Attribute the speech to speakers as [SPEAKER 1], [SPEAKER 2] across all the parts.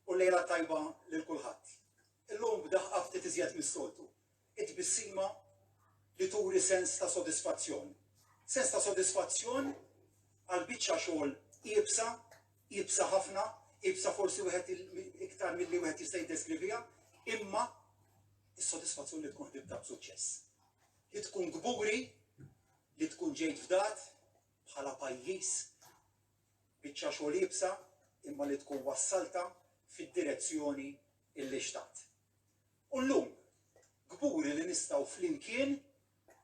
[SPEAKER 1] u lejla tajba lil kulħadd. Illum b'daħqa ftit iżjed mis-soltu. It-tbissima li turi sens ta' sodisfazzjon. Sens ta' sodisfazzjon għal biċċa xogħol iebsa, iebsa ħafna, iebsa forsi wieħed iktar milli wieħed jista' jiddeskrivija, imma is-sodisfazzjon li tkun ħdibta b'suċċess. Li tkun kburi, li tkun ġejt fdat, bħala pajjiż, biċċa xogħol iebsa imma li tkun wassaltha fid-direzzjoni li xtaqt. U llum kburi li nistgħu flimkien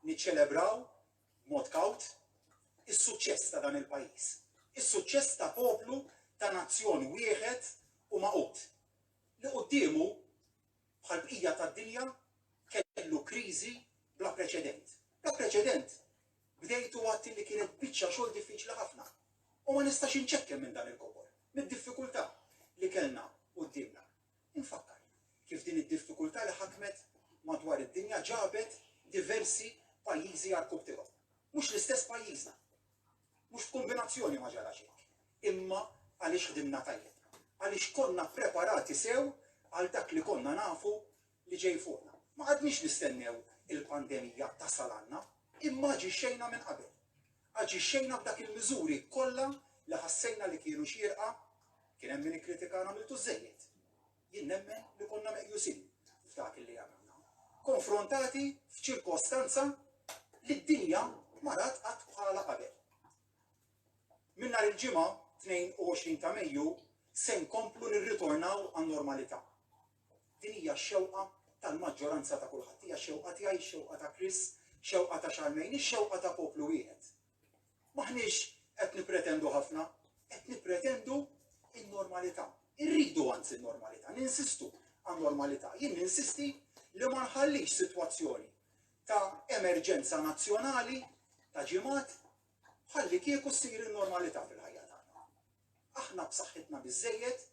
[SPEAKER 1] niċċelebraw b'mod kawt is-suċċess ta' dan il-pajjiż, is-suċċess ta' poplu ta' nazzjon wieħed u maqut li quddiemu bħal bqija tad-dinja kellu kriżi bla preċedent. Bla preċedent Bdejt u għedt li kienet biċċa xogħol diffiċli ħafna u ma nistax inċekken minn dan il-kobor, mid-diffikultà li kellna quddiemna. Infakkar kif din id-diffikultà li ħakmet madwar id-dinja ġabet diversi pajjiżi għarrkub tiegħu. Mhux l-istess pajjiżna. Mhux f'kombinazzjoni ma ġarax hekk. Imma għaliex ħdimna tajjeb. Għaliex konna ppreparati sew għal dak li konna nafu li ġej fuqna. Ma qgħadniex nistennew il-pandemija tasal għandna, imma aġixxejna minn qabel. Aġixxejna b'dak il-miżuri kollha li ħassejna li kienu xierqa, kien hemm min ikkritikana għamiltu żżejjed. Jien nemmen li konna meqjusin f'dak li għamilna. Konfrontati f'ċirkostanza li d-dinja ma rat qatt bħala qabel. Minn nhar il-ġimgħa 22 ta' Mejju se nkomplu nirritornaw għan-normalità. Din hija x-xewqa tal-maġġoranza ta' kulħadd. Hija x-xewqa tiegħi, x-xewqa ta' Chris, x-xewqa ta' Charmaine, ix-xewqa ta' poplu wieħed. M'aħniex qed nippretendu ħafna, qed nippretendu n-normalità. Irridu anzi n-normalità, ninsistu għan-normalità. Jien ninsisti li ma nħallix sitwazzjoni ta' emerġenza nazzjonali ta' ġimgħat bħallikieku ssir in-normalità fil-ħajja tagħna. Aħna b'saħħitna biżżejjed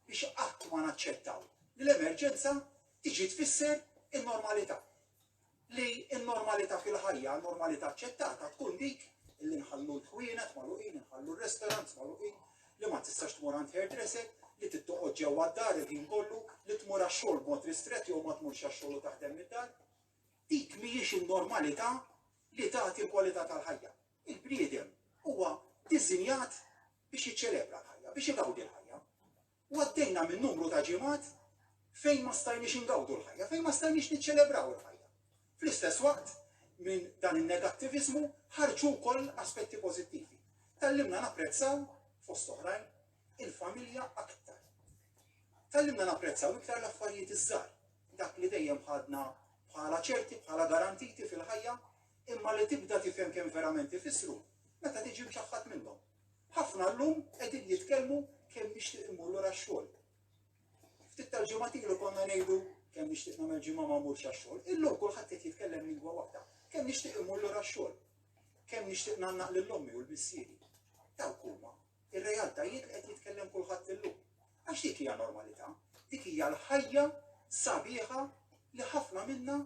[SPEAKER 1] biex qatt ma naċċettaw li l-emerġenza tiġi tfisser in-normalità. Li n-normalità fil-ħajja, normalità aċċettata, tkun dik li nħallu l-ħwienet magħluqin, inħallu r-restaurants magħluqin, li ma tistax tmur għand hairdresser, li tittoqgħod ġewwa d-dar il-ħin kollu, li tmur għax-xogħol b'mod ristrett jew ma tmurx għax-xogħol u taħdem mid-dar. Dik mhijiex in-normalità li tagħti l-kwalità tal-ħajja. Il-bniedem huwa diżinjat biex jiċċelebra l-ħajja, biex igawdi l-ħajja. U għaddejna minn numru ta' ġimgħat fejn ma stajniex ingawdu l-ħajja, fejn ma stajniex niċċelebraw il-ħajja. Fl-istess waqt, minn dan in-negattiviżmu ħarġu wkoll aspetti pożittivi. Tallimna napprezzaw, fost oħrajn, il-familja aktar. Tallimna napprezzaw iktar l-affarijiet iż-żgħar, dak li dejjem ħadna bħala ċerti, bħala garantiti fil-ħajja, imma li tibda tifhem kemm verament ifissru meta tiġi mċaħħad minnhom. Ħafna llum qegħdin jitkellmu kemm nixtieq immur lura x-xogħol. Ftit tal-ġimgħat ilu konna ngħidu kemm nixtieq nagħmel ġimgħa ma mmurx għax-xogħol. Illum kulħadd qed jitkellem lingwa waħda. Kemm nixtieq immur lura x-xogħol. Kemm nixtieq nagħannaq lil ommi u l-missieri. Dawk huma Ir-realtajiet li qed jitkellem kulħadd illum. Għax dik hija normalità, dik hija l-ħajja sabiħa li ħafna minna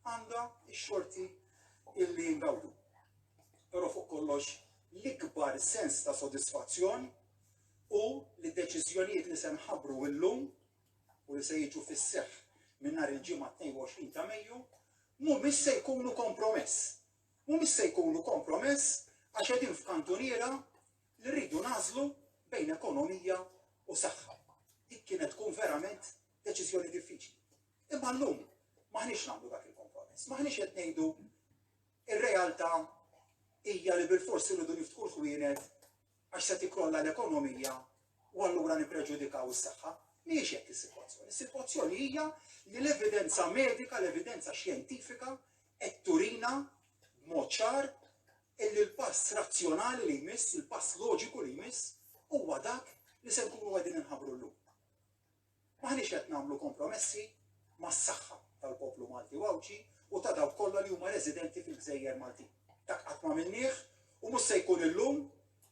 [SPEAKER 1] għandha x-xorti illi ngawdu. Però fuq kollox l-ikbar sens ta' sodisfazzjon u li deċiżjonijiet li se nħabbru illum u li se jiġu fis-seħħ minn nhar il-ġimgħa 22 ta' Mejju mhumiex se jkunu kompromess. Mhumiex se jkunu kompromess għax qegħdin f'kantuniera li rridu nagħżlu bejn ekonomija u saħħa. Dik kienet tkun verament deċiżjoni diffiċli. Imma llum m'aħniex nagħmlu dak il-kompromess, m'aħniex qed ngħidu ir-realtà hija li bil-forsi rridu niftħu l-ħwienet għax se tikrolla l-ekonomija u allura nippreġudikaw is-saħħa. Mhijiex hekk is-sitwazzjoni. Is-sitwazzjoni hija li l-evidenza medika, l-evidenza xjentifika qed turina b'mod ċar illi l-pass razzjonali li jmiss, il-pass loġiku li jmiss, huwa dak li se nkunu qegħdin inħabbru llum. M'aħniex qed nagħmlu kompromessi mas-saħħa tal-poplu Malti u Għawdxi u ta' dawk kollha li huma residenti fil-gżejjer Maltin. Dak qatt ma minnieh u mhux se jkun illum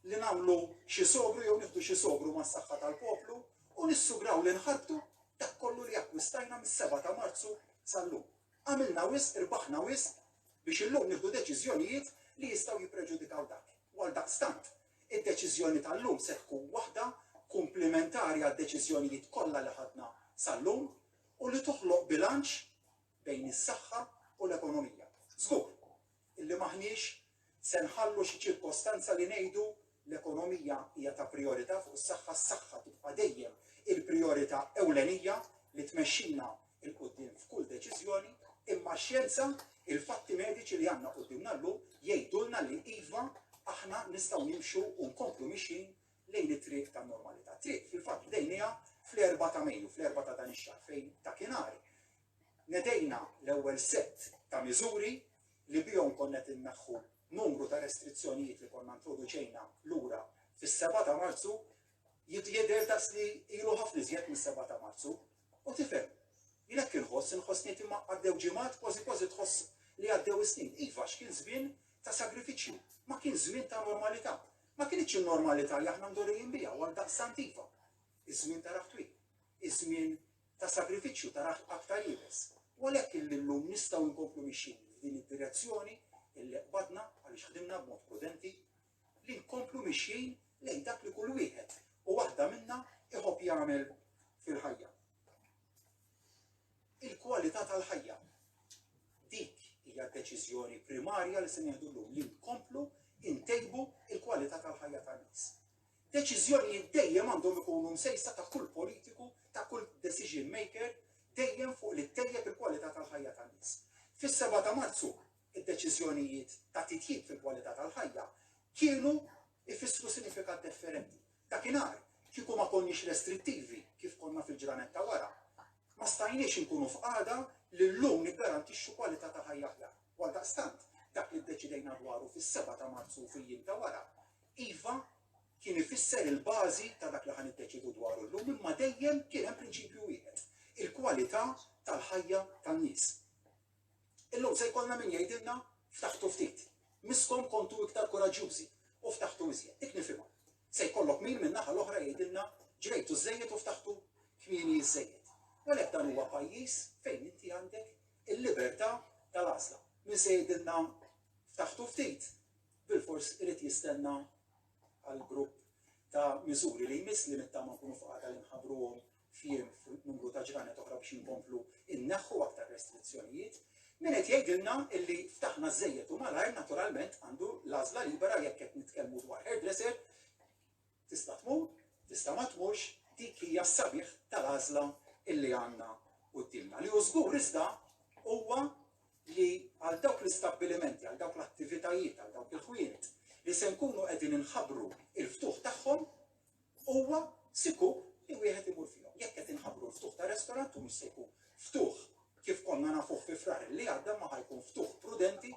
[SPEAKER 1] li nagħmlu xi sogru jew nieħdu xi sogru mas-saħħa tal-poplu u nissugraw li nħarbtu dak kollu li akkwistajna mis-7 ta' Marzu sal-lum. Għamilna wisq, irbaħna wisq, biex illum nieħdu deċiżjonijiet li jistgħu jippreġudikaw dak, u għaldaqstant, id-deċiżjoni tal-lum se tkun waħda kumplimentari għad-deċiżjonijiet kollha li ħadna sal-lum u li toħloq bilanċ bejn is-saħħa u l-ekonomija. Żgur illi m'aħniex Se nħallu xi ċirkostanza li ngħidu, L-ekonomija hija ta' prijorità fuq is-saħħa, s-saħħa tibqa' dejjem il-prijorità ewlenija li tmexxina 'l quddiem f'kull deċiżjoni, imma x-xjenza, il-fatti mediċi li għandna quddiemna llum jgħidulna li iva, aħna nistgħu nimxu u nkomplu mixjin lejn it-triq tan-normalità. Triq fil-fatt bdejnieha fl-Erbgħa ta' Mejju, fl-Erbgħa ta' dan ix-xahar, fejn dakinhar Nedejna l-ewwel sett ta' miżuri li bihom konna qed inneħħu numru ta' restrizzjonijiet li konna ntroduċejna lura fis-seba' ta' Marzu, jidher daqs li ilu ħafna iżjed mis-seba' ta' Marzu, u tifhem, jien hekk inħoss, inħoss ngħid imma għaddew ġimgħat kważi kważi tħoss li għaddew is-snin. Iva għax kien żmien ta' sagrifiċċju, ma kien żmien ta' normalità. Ma kinitx in-normalità li aħna mdorrijin biha u għaldaqstant iva, iż-żmien ta' raħ twil, iż-żmien ta' sagrifiċċju ta' raħl aktar iebes, u għalhekk illi llum nistgħu nkomplu mixjin f'din id-direzzjoni illi qbadna għaliex ħdimna b'mod prudenti, li nkomplu mixjin lejn dak li kull wieħed u waħda minna iħobb jagħmel fil-ħajja. Il-kwalità tal-ħajja. Dik hija d-deċiżjoni primarja li se nieħdu llum li nkomplu intejbu il-kwalità tal-ħajja tan-nies. Deċiżjonijiet dejjem għandhom ikunu msejsa ta' kull politiku, ta' kull decision maker, dejjem fuq li ttejjeb il-kwalità tal-ħajja tan-nies. Fis-seba' ta' Marzu, id-deċiżjonijiet ta' titjib fil-kwalità tal-ħajja kienu jfissru sinifikat differenti. Dakinhar, kieku ma konniex restrittivi kif konna fil-ġranet ta' wara, ma stajniex inkunu f'qagħda li llum niggarantixxu kwalità ta' ħajja aħjar. Għaldaqstant, dak li ddeċidejna dwaru fis-seba' ta' Marzu u fil-jiem ta' wara, Iva, kien ifisser il-bażi ta' dak li ħa niddeċiedu dwaru llum imma dejjem kien hemm prinċipju wieħed, il-kwalità tal-ħajja tan-nies. Illum se jkollna min jgħidilna ftaħtu ftit, misskom kontu iktar kuraġġjużi u ftaħtu iżjed. Dik nifhimha. Se jkollok min min-naħa l-oħra jgħidilna ġrejtu żżejjed u ftaħtu kmieni iżżejjed. U għalhekk dan huwa pajjiż fejn inti għandek il-libertà tal-għażla. Min se jgħidilna ftaħtu ftit, bilfors irid jistenna għall-grupp ta' miżuri li jmiss li nittama nkunu f'qagħda li nħabbruhom f'jiem f'numru ta' ġranet oħra biex inkomplu nneħħu aktar restrizzjonijiet. Min qed jgħidilna illi ftaħna żżejjed u malajr naturalment għandu l-għażla libera jekk qed nitkellmu dwar hairdresser Tista' tmur, tista' ma tmurx, dik hija s-sabiħ tal-għażla li għandna quddiemna. Li hu żgur iżda huwa li għal dawk l-istabbilimenti, għal dawk l-attivitajiet, għal dawk il-ħwienet li se nkunu qegħdin inħabbru il-ftuħ tagħhom huwa sikur li wieħed imur fihom. Jekk qed inħabbru l-ftuħ ta' restorant u mhux se jkun ftuħ Kif konna nafuh fi Frar li għadda ma ħa jkun ftuħ prudenti,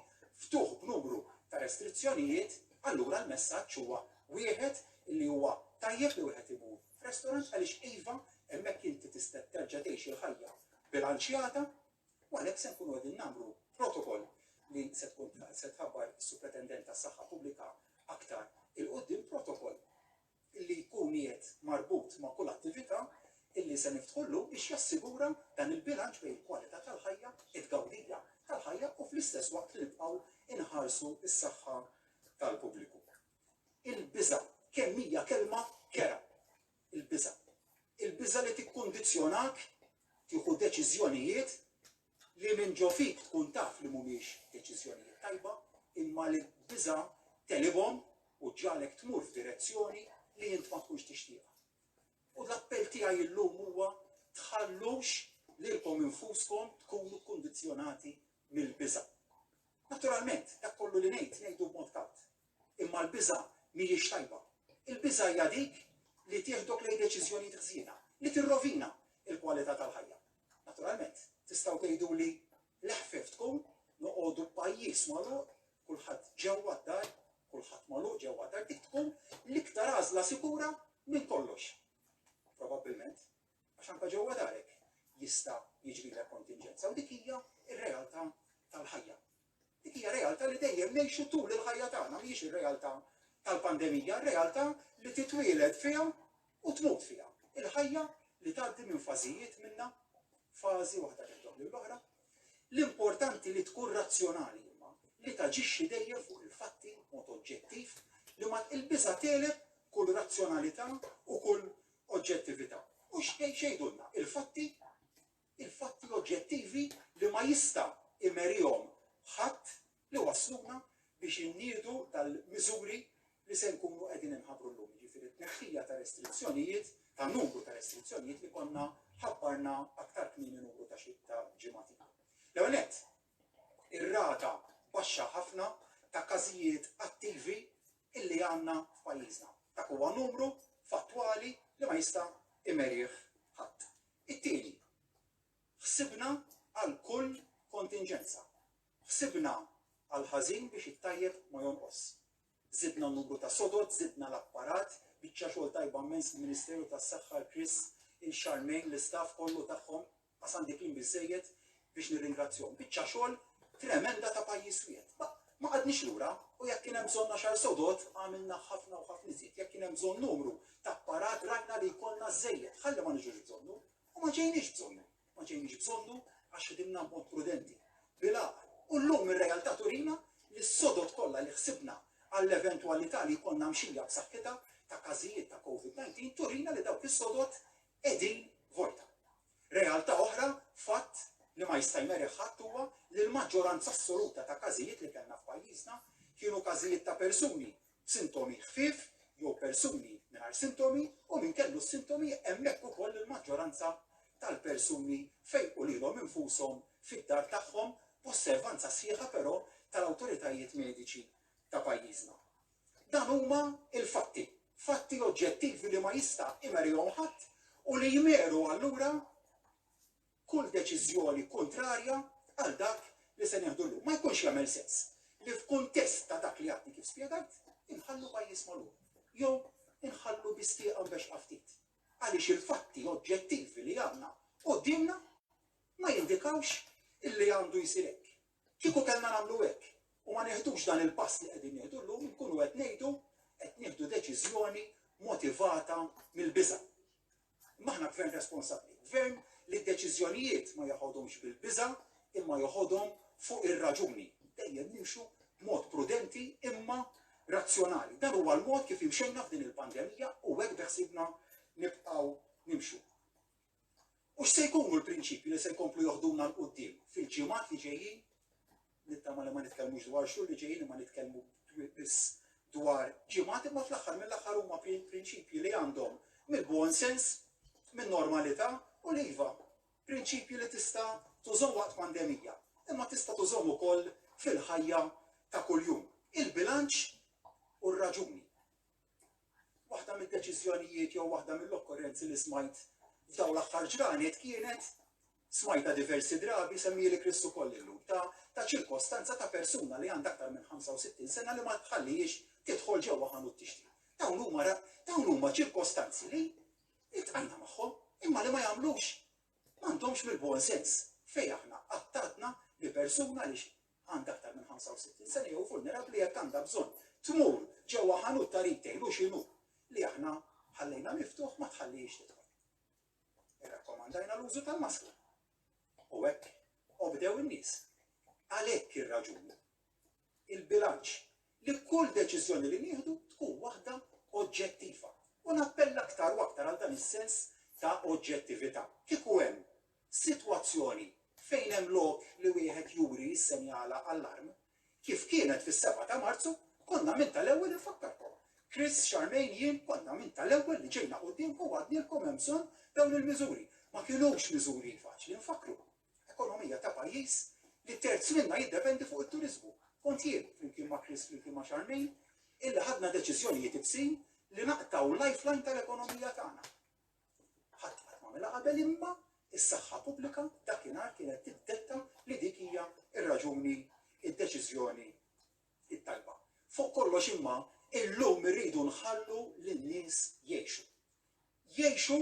[SPEAKER 1] ftuħ b'numru ta' restrizzjonijiet, allura l-messaġġ huwa wieħed li huwa tajjeb li wieħed imur f'restorant għaliex iva hemmhekk inti tista' terġa' tgħix il-ħajja bilanċjata u għalhekk se nkunu qegħdin nagħmlu protokoll li se tkun se tħabbar is-Supretendent tas-Saħħa Pubblika aktar il-quddiem protokoll li jkun qiegħed marbut ma' kull attività li se niftħu llum biex jassigura dan il-bilanċ bejn il-kwalità tal-ħajja, it-tgawdija tal-ħajja u fl-istess waqt li nibqgħu nħarsu s-saħħa tal-pubbliku. Il-biża' kemm hija kelma kerha. Il-biża'. Il-biża' li tikkundizzjonak tieħu deċiżjonijiet li minn ġo fik tkun taf li mhumiex deċiżjonijiet tajba imma li d-biża' tegħlibhom u ġġagħlek tmur f'direzzjoni li int ma tkunx tixtieqha. U l-appell tiegħi illum huwa tħallux lilkom infuskom tkunu kkundizzjonati mill-biża'. Naturalment, dak kollu li ngħid ngħidu b'mod kawt, Imma l-biża' mhijiex tajba. Il-biża' hija dik li tieħdok lejn deċiżjonijiet ħżiena, li tirrovina l-kwalità tal-ħajja. Naturalment, tistgħu tgħiduli l-eħfef tkun noqogħdu b'pajjiż magħluq, kulħadd ġewwa d-dar, kulħadd magħluq ġewwa d-dar, dik tkun l-iktar għażla sikura minn kollox. Probabbilment, għax anke ġewwa darek jista' jiġrilek kontinġenza u dik hija r-realtà tal-ħajja. Dik hija realtà li dejjem ngħixu tul il-ħajja tagħna, mhijiex ir-realtà tal-pandemija, ir-realtà li titwieled fiha u tmut fiha. Il-ħajja li tgħaddi minn fażijiet minnha, fażi waħda tintob lill-oħra. L-importanti li tkun razzjonali imma, li taġixxi dejjem fuq il-fatti b'mod oġġettiv, li ma il-biża' tegħleb kull razzjonalità u kull oġġettività. U x'għidulna l-fatti il-fatti oġġettivi li ma jista' imerihom ħadd li wassluna biex inniedu tal-miżuri li se nkunu qegħdin inħabbru llum, jiġifieri t-tneħħija ta' restrizzjonijiet, ta' numru ta' restrizzjonijiet li konna ħabbarna aktar kmieni numru ta' xi ta' ġimgħat ilu. L-ewwel nett, ir-rata baxxa ħafna ta' każijiet attivi illi għandna f'pajjiżna. Dak huwa numru fattwali li ma jista' imerih ħadd. It-tieni, ħsibna għal kull kontinġenza. Ħsibna għall-ħażin biex it-tajjeb ma jonqos. Żidna n-numru ta' sodod, żidna l-apparat, biċċa xogħol tajba mmens il-Ministeru tas-Saħħa, l-Kris, il-Xarmejn, l-istaff kollu tagħhom, qasam dik l-im biżżejjed, biex nirringrazzjahom. Biċċa xogħol tremenda ta' pajjiż wieħed. Ma, ma qadniex lura u jekk kien hemm bżonn għaxar sodod għamilna ħafna u ħafna iżjed. Jekk kien hemm bżonn numru ta' apparat rajna li jkollna żejjed, ħalli ma niġux bżonnu u ma ġejniex bżonnu. Ma ġejniex bżonnu għax ħdimna b'mod prudenti. Bila, u llum ir-realtà turina li s-sodod kollha li ħsibna għall-eventwalità li jkollna mxija b'saħħitha ta' każijiet ta' COVID-19 turina li dawk is-sodod qegħdin vojta. Realtà oħra, fatt li ma jista' jmerrigħ ħadd huwa li l-maġġoranza assoluta ta' każijiet li kellna f'pajjiżna kienu każijiet ta' persuni b'sintomi ħfief jew persuni mingħajr sintomi u min kellu s-sintomi hemmhekk ukoll il-maġġoranza tal-persuni fejqu lilhom infushom fid-dar tagħhom b'osservanza sħiħa però tal-awtoritajiet mediċi ta' pajjiżna. Dan huma l-fatti, fatti oġġettivi li ma jista' imerihom ħadd u li jmeru allura kull deċiżjoni kuntrarja għal dak li se nieħdu llum. Ma jkunx jagħmel sens li f'kuntest ta' dak li għadni kif spjegajt, inħallu pajjiż magħluq. Jew inħallu bistieqa biex ftit. Għaliex il-fatti oġġettivi li għandna qudiemna ma jindikawx illi għandu jsir hekk. Kieku kellna nagħmlu hekk u ma nieħdux dan il-pass li qegħdin nieħdu llum inkunu qed ngħidu qed nieħdu deċiżjoni motivata mill-biża'. Imma aħna gvern responsabbli, gvern li d-deċiżjonijiet ma joħodhomx bil-biża' imma joħodhom fuq ir-raġuni. Dejjem nimxu b'mod prudenti imma razzjonali. Dan huwa l-mod kif imxejna f'din il-pandemija u hekk beħsibna nibqgħu nimxu. U x'se jkunu l-prinċipji li se jkomplu joħduna 'l quddiem fil-ġimgħat li ġejjin? Nittama li ma nitkellmux dwar xhur li ġejjin imma nitkellmu biss dwar ġimgħat imma fl-aħħar mill-aħħar huma prinċipji li għandhom mill-buon sens, min-normalità u l-iva, prinċipji li tista' tużhom waqt pandemija, imma tista' tużhom ukoll fil-ħajja ta' kuljum. Il-bilanċ u r-raġuni. Waħda mid-deċiżjonijiet jew waħda mill-okkorrenzi li smajt f'dawn l-aħħar ġranet kienet smajta diversi drabi semmieli Kristu koll illum ta' ta' ċirkostanza ta' persuna li għandha aktar minn 65 sena li ma tħallix tidħol ġewwa ħanut tixtri. Dawn huma dawn huma ċirkostanzi li itqajna magħhom imma li ma jagħmlux m'għandhomx mill-bon sens fejn aħna qattatna li persuna li għandha aktar minn 65 sena jew vulnerabbli jekk għandha bżonn tmur ġewwa ħanut ta' retail u x'inhu li aħna ħallejna miftuħ ma tħallihiex tidħol. Irrakkomandajna l-użu tal-maskra. U hekk obdew in-nies. Għalhekk ir-raġuni il-bilanċ li kull deċiżjoni li nieħdu tkun waħda oġġettiva u nappella aktar u aktar għal dan is-sens ta' oġġettività. Kieku hemm sitwazzjoni fejn hemm lok li wieħed juri jissenjala allarm, kif kienet fis-sebgħa ta' Marzu, konna minn tal-ewwel infakkarkom. Chris, Charmaine, jien konna minn tal-ewwel li ġejna quddiemkom u għadnielkom hemm bżonn dawn il-miżuri. Ma kinux miżuri faċli nfakkru. Ekonomija ta' pajjiż li terz minnha jiddependi fuq it-turiżmu. Kont jien, flimkien ma' Chris flimkien ma' Charmaine, illi ħadna deċiżjonijiet ibsin li naqtgħu l-lifeline tal-ekonomija tagħna. Ħadd qatt m'għamilha qabel imma s-saħħa pubblika dakinhar kienet tiddetta li dik hija r-raġuni, id-deċiżjoni t-tajba. Fuq kollox imma illum irridu nħallu lin-nies jgħixu. jgħixu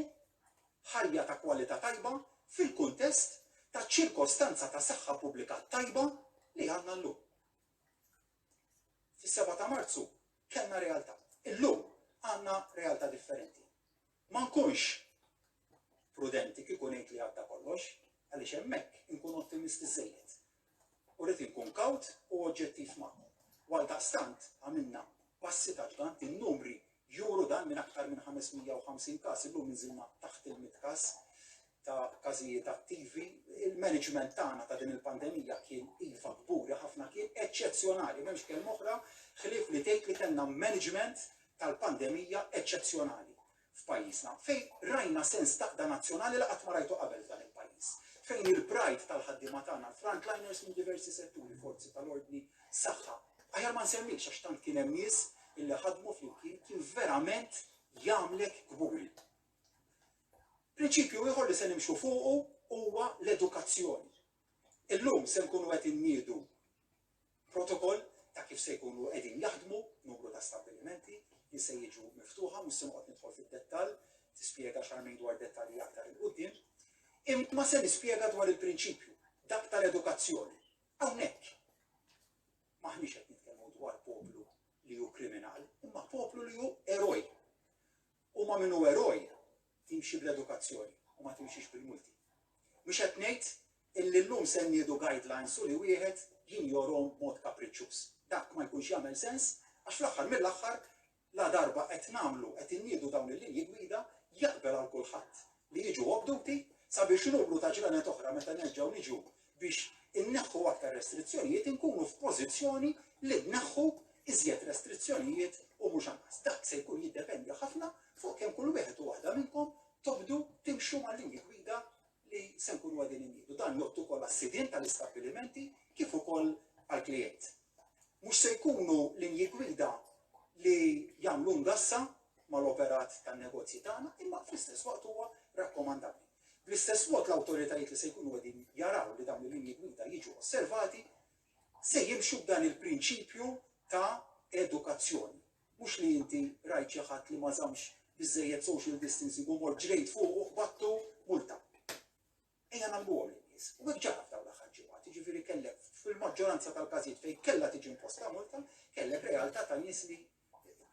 [SPEAKER 1] ħajja ta' kwalità tajba fil-kuntest ta' ċirkostanza ta' saħħa pubblika tajba li għandna llum. Fis-seba' ta' Marzu kellna realtà. Illum għandna realtà differenti. Ma nkunx prudenti kieku ngħid li għadda kollox, għaliex hemmhekk inkun ottimisti żżejjed. u rrid inkun kawt u oġġettiv magħkom. U għaldaqstant għamilna passi ta' ġgant, in-numri juru dan minn aktar minn 550 każ illum inżilna taħt il-mitt każ ta' każijiet attivi. Il-management tagħna ta' din il-pandemija kien iva kburi ħafna, kien eċċezzjonali, m'hemmx kelma oħra ħlief li tgħid li kellna management tal-pandemija eċċezzjonali. f'pajjiżna, fejn rajna sens ta' qda nazzjonali li qatt ma rajtu qabel f'dan il-pajjiż, fejn il-pride tal-ħaddiema tagħna, l-frontliners minn diversi setturi, forzi tal-ordni, saħħa, aħjar ma nsemmix għax tant kien hemm nies illi ħadmu flimkien, kien verament jagħmlek kburi. Prinċipju ieħor li se nimxu fuqu huwa l-edukazzjoni. Illum se nkunu qed inniedu protokoll ta' kif se jkunu qegħdin jaħdmu numru ta' stabbilimenti li se jiġu miftuħa, mhux se noqgħod nidħol fid-dettall, tispjega Charmaine dwar dettalji aktar 'il quddiem, imma se nispjega dwar il-prinċipju, dak tal-edukazzjoni. Hawnhekk m'aħniex qed nitkellmu dwar poplu li hu kriminali, imma poplu li hu eroj. U ma' min hu eroj timxi bl-edukazzjoni u ma timxix bil-multi. Mhux qed ngħid illi llum se nniedu guidelines u li wieħed jinjorhom b'mod kapriċċuż. Dak ma jkunx jagħmel sens għax fl-aħħar mill-aħħar ladarba qed nagħmlu, qed inniedu dawn il-linji gwida, jaqbel għal kulħadd li jiġu obduti sabiex numru ta' ġranet oħra meta nerġgħu niġu Biex inneħħu aktar restrizzjonijiet inkunu f'pożizzjoni li nneħħu iżjed restrizzjonijiet u mhux anqas. Dak se jkun jiddependi ħafna fuq kemm kull wieħed u waħda minnkom tobdu timxu mal-linji gwida li se nkunu qegħdin inniedu. Dan jgħodd ukoll għas-sidien tal-istabbilimenti kif ukoll għall-klijent. Mhux se jkunu linji gwida li jagħmlu ngassa mal-operat tan-negozji tagħna, imma fl-istess waqt huwa rakkomandabbli. Bl-istess mod, l-awtoritajiet li se jkunu qegħdin jaraw li dawn il-linji gwida jiġu osservati se jimxu b'dan il-prinċipju ta' edukazzjoni. Mhux li inti rajt xi ħadd li ma żammx biżżejjed social distancing u mort ġrejt fuqu u ħbattu, multa. Ejja nagħlmuhom lin-nies. U hekk ġara f'dawn l-aħħar ġimgħat, jiġifieri kellek fil-maġġoranza tal-każijiet fejn kellha tiġi imposta multa, kellek realtà ta' nies li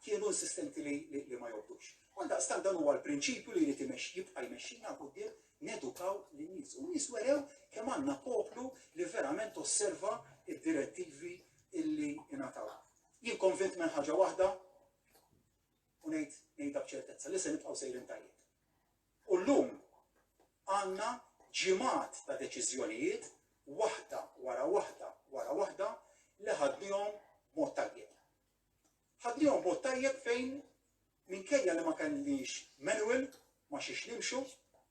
[SPEAKER 1] kienu insistenti li ma jobdux. Għaldaqstant dan huwa l-prinċipju li jrid jibqa' jmexxina 'l quddiem nedukaw lin-nies. U n-nies werew kemm għandna poplu li verament osserva d-direttivi illi ingħataw. Jien konvint minn ħaġa waħda u ngħid ngħidha b'ċertezza li se nibqgħu sejrin tajjeb. U llum għandna ġimgħat ta' deċiżjonijiet waħda wara waħda wara waħda li ħadnihom mod tajjeb. Ħadnihom b'mod tajjeb fejn minkejja li ma kellniex manual ma' xiex nimxu,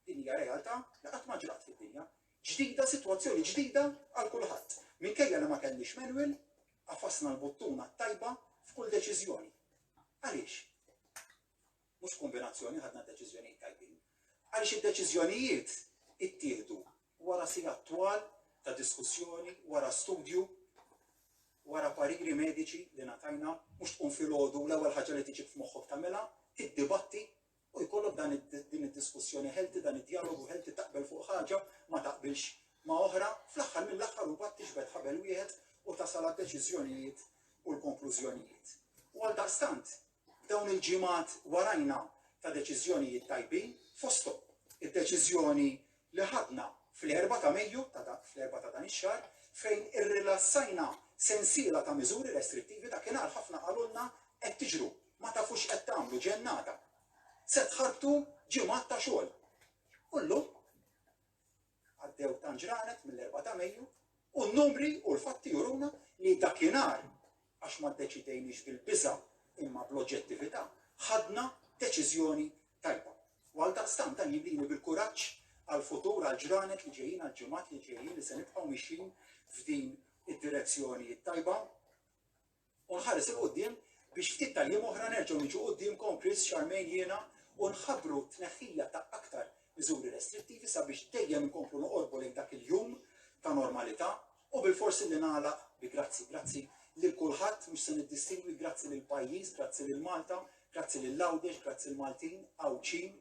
[SPEAKER 1] din hija realtà li qatt ma ġrat fid-dinja, ġdida, sitwazzjoni ġdida għal kulħadd. Minkejja li ma kellniex manual, qafasna l-buttuna t-tajba f'kull deċiżjoni. Għaliex? Mhux b'kumbinazzjoni ħadna deċiżjonijiet tajbin. Għaliex id-deċiżjonijiet ittieħdu Wara sigħat twal ta' diskussjoni, wara studju, wara pariri mediċi li ngħatajna, mhux tqum filgħodu u l-ewwel ħaġa li tiġik f'moħħok tagħmilha, tiddibatti u jkollok dan din id-diskussjoni healthy, dan id-djalogu healthy taqbel fuq ħaġa, ma taqbilx ma' oħra, fl-aħħar mill-aħħar imbagħad tiġbed ħabel wieħed u tasal għad-deċiżjonijiet u l-konklużjonijiet. U għaldaqstant, F'dawn il-ġimgħat warajna ta' deċiżjonijiet tajbin fosthom id-deċiżjoni li ħadna fl-erbgħa ta' Mejju, fl-erbgħa ta' dan ix-xahar, fejn irrilassajna sensiela ta' miżuri restrittivi dakinhar ħafna qalulna qed tiġru, ma tafu x'qed tagħmlu, ġennata. Se tħarbtu ġimgħat ta' xogħol. U llum? għaddew tant ġranet mill-4 ta' Mejju u n-numri u l-fatti juruna li dakinhar għax ma ddeċidejniex bil-biża' imma bl-oġġettività ħadna deċiżjoni tajba. U għal daqstant dan jibdini bil-kuraġġ għal-futur għal-ġranet li ġejjin għal-ġimgħat li ġejjin li se nibqgħu mixin f'din id-direzzjoni tajba. U nħares 'il quddiem biex ftit tal-jiem oħra nerġgħu niġu quddiemkom, Chris, Charmaine, jiena, u nħabbru t-tneħħija ta' aktar miżuri restrittivi sabiex dejjem inkomplu noqorbu lejn dak il-jum ta' normalità. U bilfors illi nagħlaq bi grazzi. Grazzi lil kulħadd, mhux se niddistingwi, grazzi lill-pajjiż, grazzi lil Malta, grazzi lil Għawdex, grazzi l-Maltin, Għawdxin,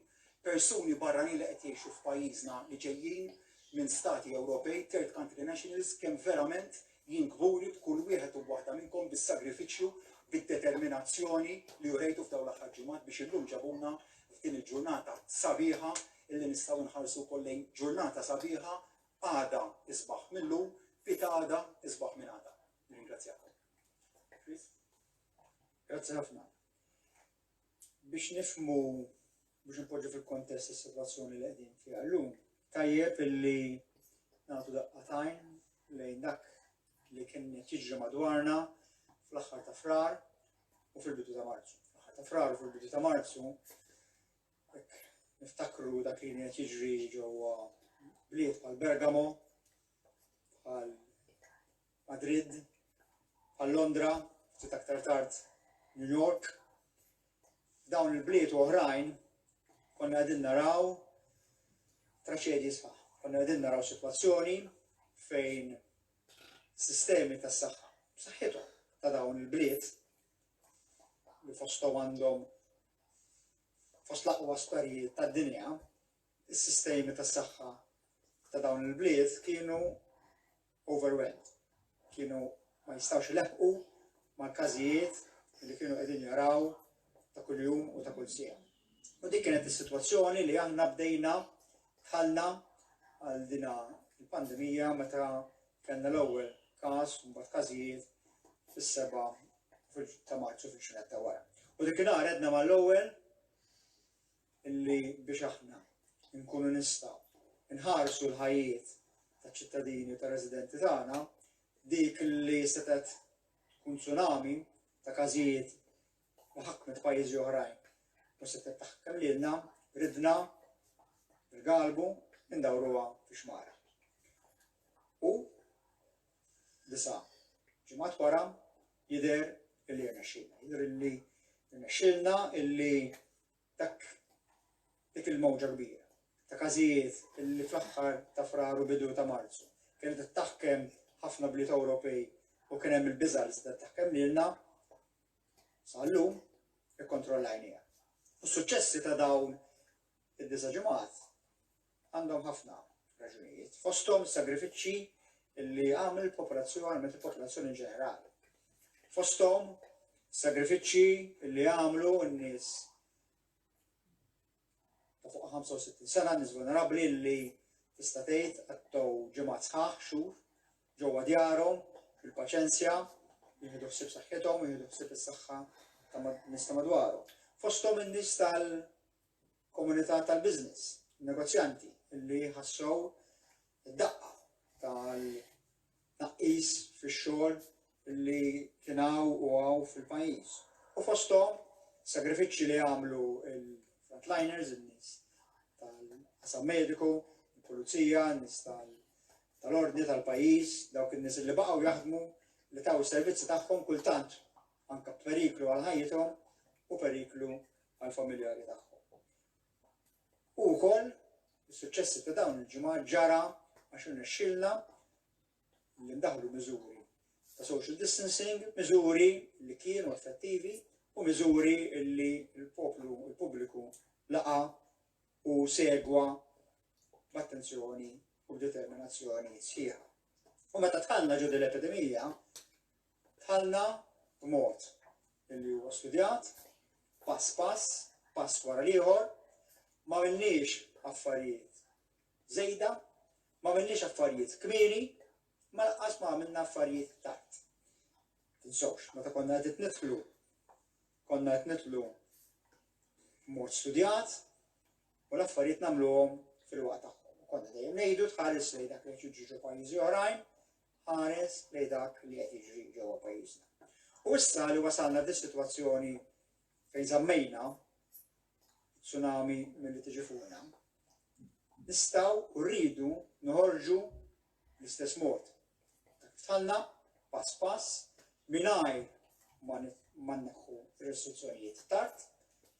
[SPEAKER 1] persuni barranin li qed jgħixu f'pajjiżna li ġejjin minn stati Ewropej, third country nationals, kemm verament Jien kburi b'kull wieħed u waħda minnkom bis-sagrifiċċju, bid-determinazzjoni li urejtu f'dawn l-aħħar ġimgħat biex illum ġabuna f'din il-ġurnata sabiħa illi nistgħu nħarsu wkoll lejn ġurnata sabiħa għada isbaħ mil-lum fi ta' għada isbaħ minn għada. Nirringrazzjakom. Chris? Grazzi ħafna. Biex nifmu biex inpoġġu fil-kontest is-sitwazzjoni li qegħdin fiha llum, tajjeb illi nagħtu daqqa tajn lejn dak li kien qed jiġri madwarna fl-aħħar ta' frar u fil-bidu ta' Marzu. Fl-aħħar ta' frar u fil-bidu ta' Marzu niftakru dak li qed jiġri ġewwa bliet bħal Bergamo, bħal Madrid, għal Londra, ftit aktar tard New York. Dawn il-bliet oħrajn konna għedin naraw traċedji sħaħ. Konna għedin naraw situazzjoni fejn sistemi tas saħħa saħħithom ta' dawn il-bliet li fostom għandhom fost laqwa sparijiet tad dinja is-sistemi tas-saħħa ta' dawn il-bliet kienu overwhelmed. Kienu ma jistgħux ileħqu mal-każijiet li kienu qegħdin jaraw ta' kuljum u ta' kull sija. U dik kienet is-sitwazzjoni li aħna bdejna ħalna għal dina il-pandemija meta kellna l-ewwel każ u mbagħad każijiet fis-seba' ta' Marzu fil-ġurnata wara. U dik inhar għedna mal-ewwel illi biex aħna nkunu nistgħu nħarsu l-ħajjiet taċ-ċittadini u tar-residenti tagħna, dik li setgħet tkun tsunami ta' każijiet li ħakmet pajjiżi oħrajn u setgħet taħkem lilna ridna il-galbu indawruha fi xmara. U disa' ġimgħat wara jidher illi rnexxilna, jidher illi rnexxilna illi dak dik il-mowġa kbira ta' każijiet li fl-aħħar ta' Frar u bidu ta' Marzu kienet qed taħkem ħafna bliet Ewropej u kien hemm il-biża' li setgħet taħkem lilna, sa llum ikkontrollajniha. U s-suċċessi ta' dawn id-disa' ġimgħat Għandhom ħafna raġunijiet, fosthom is-sagrifiċċji li għamel il-popolazzjoni, għamlet il-popolazzjoni in ġenerali. Fosthom sagrifiċċji li għamlu n-nies ta' fuq 65 sena, n-nies vulnerabbli li tista' tgħid għattow ġimgħat sħaħ xhur ġewwa djarhom fil-paċenzja, jieħdu ħsieb saħħithom, jieħdu ħsieb is-saħħa ta' nista madwarhom. Fosthom in-nies tal- komunità tal-business, negozjanti li ħassew id-daqqa tal-tnaqqis fix-xogħol li kien hawn u hawn fil-pajjiż. U fosthom sagrifiċċji li għamlu l-frontliners, in-nies tal-qasam mediku, il-pulizija, n-nies tal-ordni tal-pajjiż, dawk in-nies li baqgħu jaħdmu li taw is-servizzi tagħhom kultant anke b'periklu għal ħajjithom u periklu għall-familjari tagħhom. U wkoll is-suċċessi ta' dawn il-ġimgħat ġara għax irnexxilna li ndaħlu miżuri ta' social distancing, miżuri li kienu effettivi u miżuri li l-poplu, il-pubbliku laqa u segwa b'attenzjoni u b'determinazzjoni sħiħa. U meta tħallna ġodi l-epidemija, Dħalna b'mod li huwa studjat, pass pass, pass wara l-ieħor, m'għamilniex affarijiet żejda, m'għamilniex affarijiet kmieni, ma laqqas ma għamilna affarijiet tard. Tinsewx, meta konna qed nidħlu, konna qed nidħlu mod studjat u l-affarijiet nagħmluhom fil-waqt tagħhom. Konna dejjem ngħidu tħares lejn dak li qed jiġu pajjiżi oħrajn, Ħares lejn dak li qed jiġri ġewwa pajjiżna. U issa li wasalna f'dis-sitwazzjoni fejn żammejna tsunami milli tiġi fuqna, nistgħu u rridu noħorġu l-istess mod. Tħallna pass pass mingħajr ma neħħu restrizzjonijiet tard,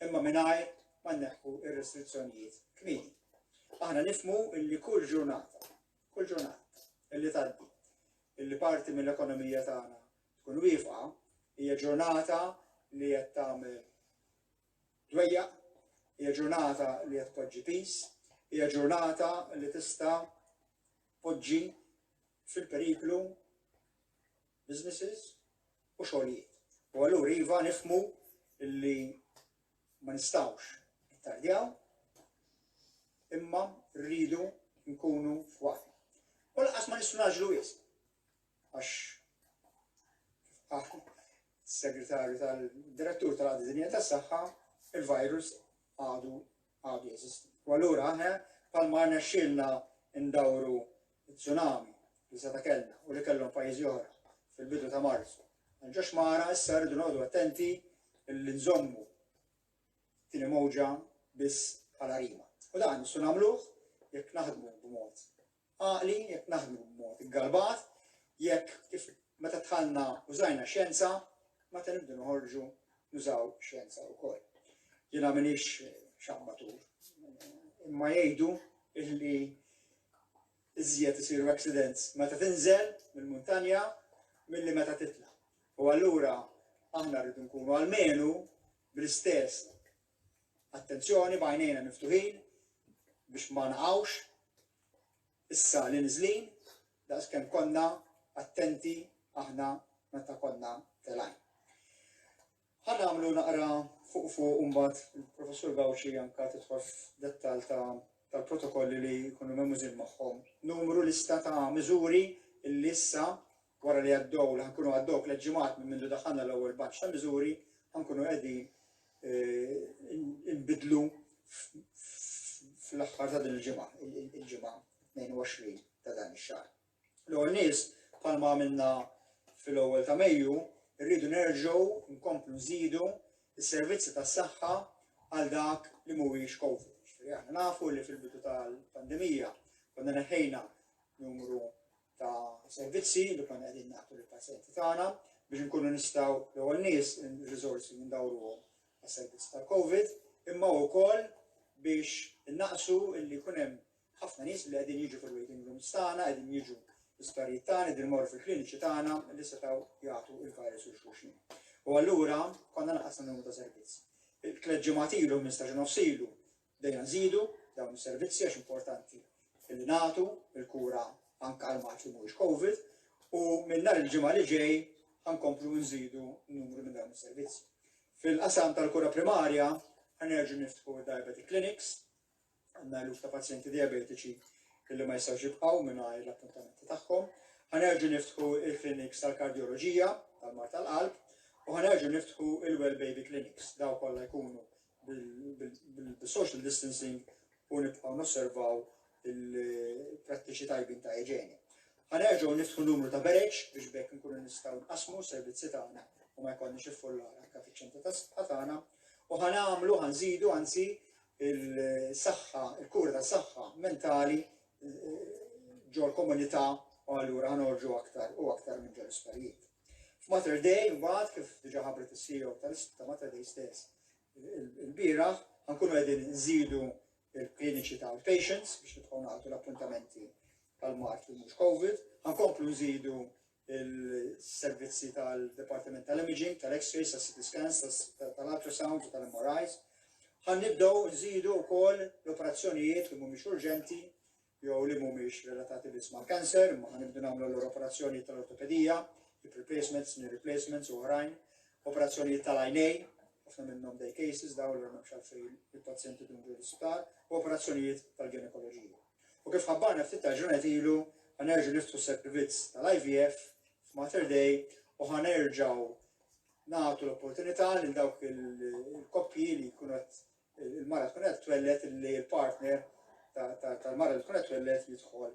[SPEAKER 1] imma mingħajr ma neħħu restrizzjonijiet kmieni. Aħna nifmu li kull ġurnata Kull ġurnata illi tgħaddi illi parti mill-ekonomija tagħna tkun wieqfa hija ġurnata li qed tagħmel dwejja, hija ġurnata li qed tpoġġi pis, hija ġurnata li tista' poġġi fil-periklu businesses u xogħlijiet. U allura iva nifmu illi ma nistgħux nittardjaw imma rridu nkunu f'waqtna. U laqas ma nistgħu naġlu wisq. Għax segretarju tal-direttur tal-għaddi dinja tas saħħa il-virus għadu għadu jeżisti. U allura aħna palma għana xilna ndawru It-tsunami li seta' kellna u li kellhom pajjiżi oħra fil-bidu ta' Marzu għal ġo xmara issa rridu noqogħdu attenti li nżommu t-tieni mowġa biss bħala rima. U dan nistgħu nagħmluh jekk naħdmu b'mod għaqli, jekk naħdmu b'mod iggarbat, jekk kif meta tħallna użajna xjenza, meta nibdu noħorġu nużaw xjenza wkoll. Jiena minix xammatur, imma jgħidu illi iżjed isiru accidents meta tinżel mill-muntanja milli meta titla'. U allura aħna rridu nkunu almenu bl-istess attenzjoni b'għajnejna miftuħin biex ma naqgħux issa li niżlin daqskemm konna attenti aħna meta konna telgħin. Ħa nagħmlu naqra fuq fuq u mbagħad il-Professur Gauci anke tidħol f'dettall ta' tal-protokolli li jkunu memużin magħhom. Numru lista ta' miżuri illi issa wara li għaddew li ħankunu għaddew tliet ġimgħat minn mindu daħħalna l-ewwel batch ta' miżuri ħankunu qegħdin eh, inbidlu fl-aħħar ta' din il-ġimgħa, il-ġimgħa 22 ta' dan ix-xahar. L-ewwel nies, bħalma għamilna fil-ewwel ta' Mejju, irridu nerġgħu nkomplu nżidu s-servizzi tas-saħħa għal dak li mhuwiex Covid. Jiġifieri aħna nafu li fil-bidu tal-pandemija konna neħħejna numru ta' servizzi li konna qegħdin nagħtu lill-pazjenti tagħna biex nkunu nistgħu l-ewwel nies ir-riżorsi ndawruhom għas-servizz tal-Covid, imma wkoll biex innaqsu li jkun hemm ħafna nies li qegħdin jiġu fil-waiting rooms tagħna, qegħdin jiġu l-isptarijiet tagħna, qegħdin imorru fil-kliniċi tagħna li setgħu jagħtu il-virus il xulxin. U allura konna naqasna numru ta' servizz. Il-tliet ġimgħat ilu minn staġun nofsilu dejna nżidu dawn is-servizzi għax importanti li nagħtu il-kura anke għal mat li mhuwiex COVID u minn nhar il-ġimgħa li ġej ħankomplu nżidu numru minn dawn is-servizzi. Fil-qasam tal-kura primarja ħanerġu niftħu diabetic clinics Għandna eluf ta' pazjenti diabetiċi illi ma jistgħux jibqgħu mingħajr l-appuntamenti tagħhom. Ħanerġu niftħu il-kliniks tal-kardjoloġija tal-mar tal-qalb u ħanerġu niftħu il-well baby clinics daw kollha jkunu bil-social distancing u nibqgħu nosservaw il-prattiċi tajbin ta' iġeni. Ħanerġu niftħu numru ta' bereġ biex bekk nkunu nistgħu nqasmu servizzi tagħna u ma jkollniex iffullar anke fiċ-ċentru ta' tagħna u ħanamlu ħanżidu anzi il-saħħa, il-kura ta' saħħa mentali ġol komunità u allura ħanorġu aktar u aktar minn ġol isparijiet. F'Mater Day, mbagħad kif diġà ħabret is-CEO ta' Mater Day stess, il-bira ħankunu qegħdin nżidu il-kliniċi ta' patients biex nibqgħu nagħtu l-appuntamenti tal-mart li mhux COVID, ħankomplu nżidu il-servizzi tal-Departiment tal-Imaging, tal-X-rays, tal-CT scans, tal-ultrasound u tal-MRIs. Għan nibdaw nżidu wkoll l-operazzjonijiet li mhumiex urġenti jew li mhumiex relatati biss ma' kanser, ma għan nibdu nagħmlu l-operazzjoni tal-ortopedija, replacements, knee replacements u oħrajn, operazzjonijiet tal-għajnej, ħafna minnhom day cases daw li ma xalfejn il-pazjenti dun ġur u operazzjonijiet tal-ginekoloġija. U kif ħabbarna ftit tal-ġranet ilu, ħa nerġgħu niftħu s-servizz tal-IVF f'Mater Dei u ħa nerġgħu nagħtu l-opportunità lil dawk il-koppji li jkunu il-mara tkun qed twellet li l-partner tal-mara li tkun qed twellet jidħol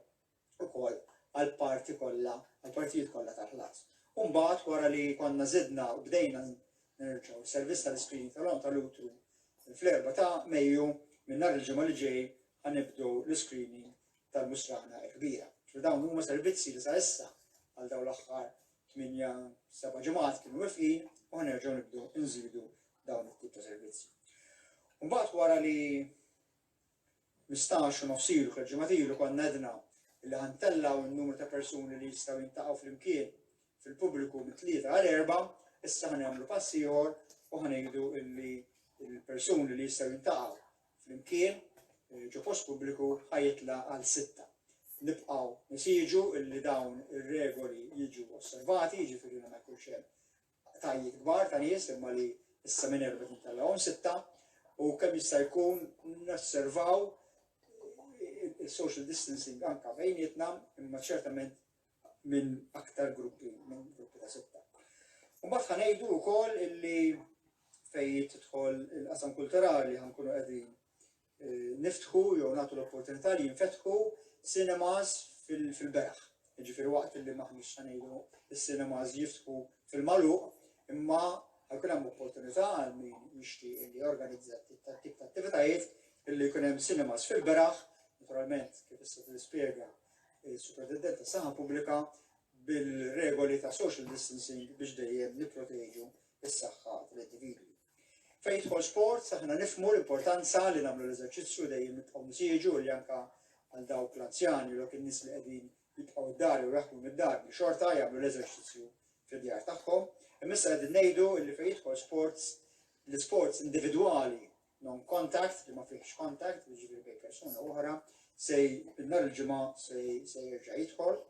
[SPEAKER 1] ukoll għal parti kollha, għal partijiet kollha tal-ħlas. Umbagħad wara li konna zidna u bdejna nerġgħu servizz tal-iskrin tal-għom tal-utru fl-erba ta' Mejju minn nhar il-ġimgħa li ġej ħa nibdu l-iscreening tal-musrana l-kbira. Ġifieri dawn huma servizzi li sa issa għal dawn l-aħħar 8-7 ġimgħat kienu wifqin u ħanerġgħu nibdu nżidu dawn it-tip ta' servizzi. Mbagħad wara li mistax u nofsilu kol ġematilu kon nedna li ħantellaw il-numru ta' persuni li jistaw jintaqaw fl-imkien fil-pubbliku mit tlieta għal erba, issa ħan jagħmlu passi ieħor u ħanejdu illi il-persuni li jistaw jintaqaw Flimkien, ġo post pubbliku ħa jitla' għal sitta. Nibqgħu nesiġu li dawn ir-regoli jiġu osservati, jiġifieri li ma jkunx hemm qtajiet kbar ta' nies imma li issa minn erbgħet nitellgħuhom sitta u kemm jista' jkun nosservaw is-social distancing anke bejnietna imma ċertament minn aktar gruppi, minn gruppi ta' sitta. Mbagħad ħa ngħidu wkoll illi fejn tidħol il-qasam kulturali ħankunu qegħdin eh, niftħu jew nagħtu l-opportunità li jinfetħu cinemas fil-beraħ. Ġifieri waqt li maħniex ħa ngħidu is-cinemas jiftħu fil-maluq, imma ħajkun hemm opportunità għal min jixtieq li jorganizza tip ta' attivitajiet illi jkun hemm cinemas fil-beraħ, naturalment kif issa tispjega Is-Superintendent tas-Saħħa Pubblika bil-regoli ta' social distancing biex dejjem nipproteġu s-saħħa tal-individwi. Fejn jidħol sport, aħna nifmu l-importanza li nagħmlu l-eżerċizzju dejjem nibqgħu nsieġu li anka għal dawk l-anzjani u kien nies li qegħdin jibqgħu d-dar u jaħdmu mid-dar li xorta jagħmlu l-eżerċizzju fid-djar tagħhom. Imissa qegħdin ngħidu li fejn jidħol sports l-isports individwali non-contact, li ma fihx contact, li ġifieri bejn persuna oħra, se nhar il-ġimgħa se jerġa' jidħol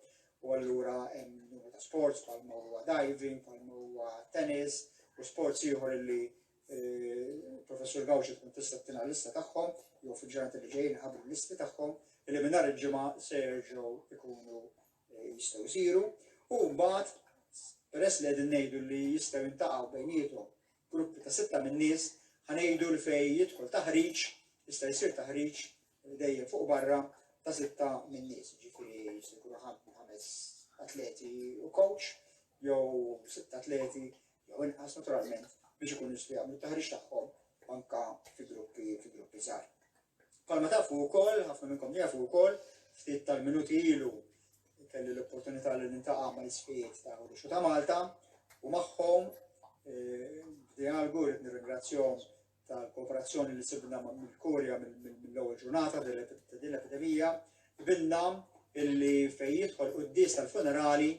[SPEAKER 1] u allura hemm numru ta' sports bħal ma huwa diving, bħal ma huwa tennis u sports ieħor li eh, professur Gawxi tkun tista' tina lista tagħhom jew fil-ġurnati li ġejjin ħabru listi tagħhom li minn nhar il-ġimgħa se jerġgħu ikunu eh, jistgħu jsiru u mbagħad peress li qegħdin ngħidu li jistgħu jintaqgħu bejniethom gruppi ta' sitta minn nies, ħa ngħidu li fejn jidħol taħriġ, jista' jsir taħriġ dejjem fuq barra ta' sitta minn nies, ġifieri jista' jkunu ħames atleti u coach, jew sitta atleti, jew inqas naturalment biex ikunu jistgħu jagħmlu taħriġ tagħhom anka fi gruppi fi gruppi żgħar. Bħalma tafu wkoll, ħafna minnkom jafu wkoll, ftit tal-minuti ilu kelli l-opportunità li nintaqa' ma' l-isfijiet ta' Għodixu ta' Malta u magħhom eh, dialgu rrid nirringrazzjahom tal-kooperazzjoni li sibna mill-Kurja mill-ewwel ġurnata din l-epidemija, bilna illi fejn jidħol qudies tal-funerali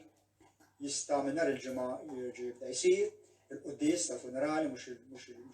[SPEAKER 1] jista' minn nhar il-ġimgħa jirġi jibda jsir il-quddies tal-funerali mhux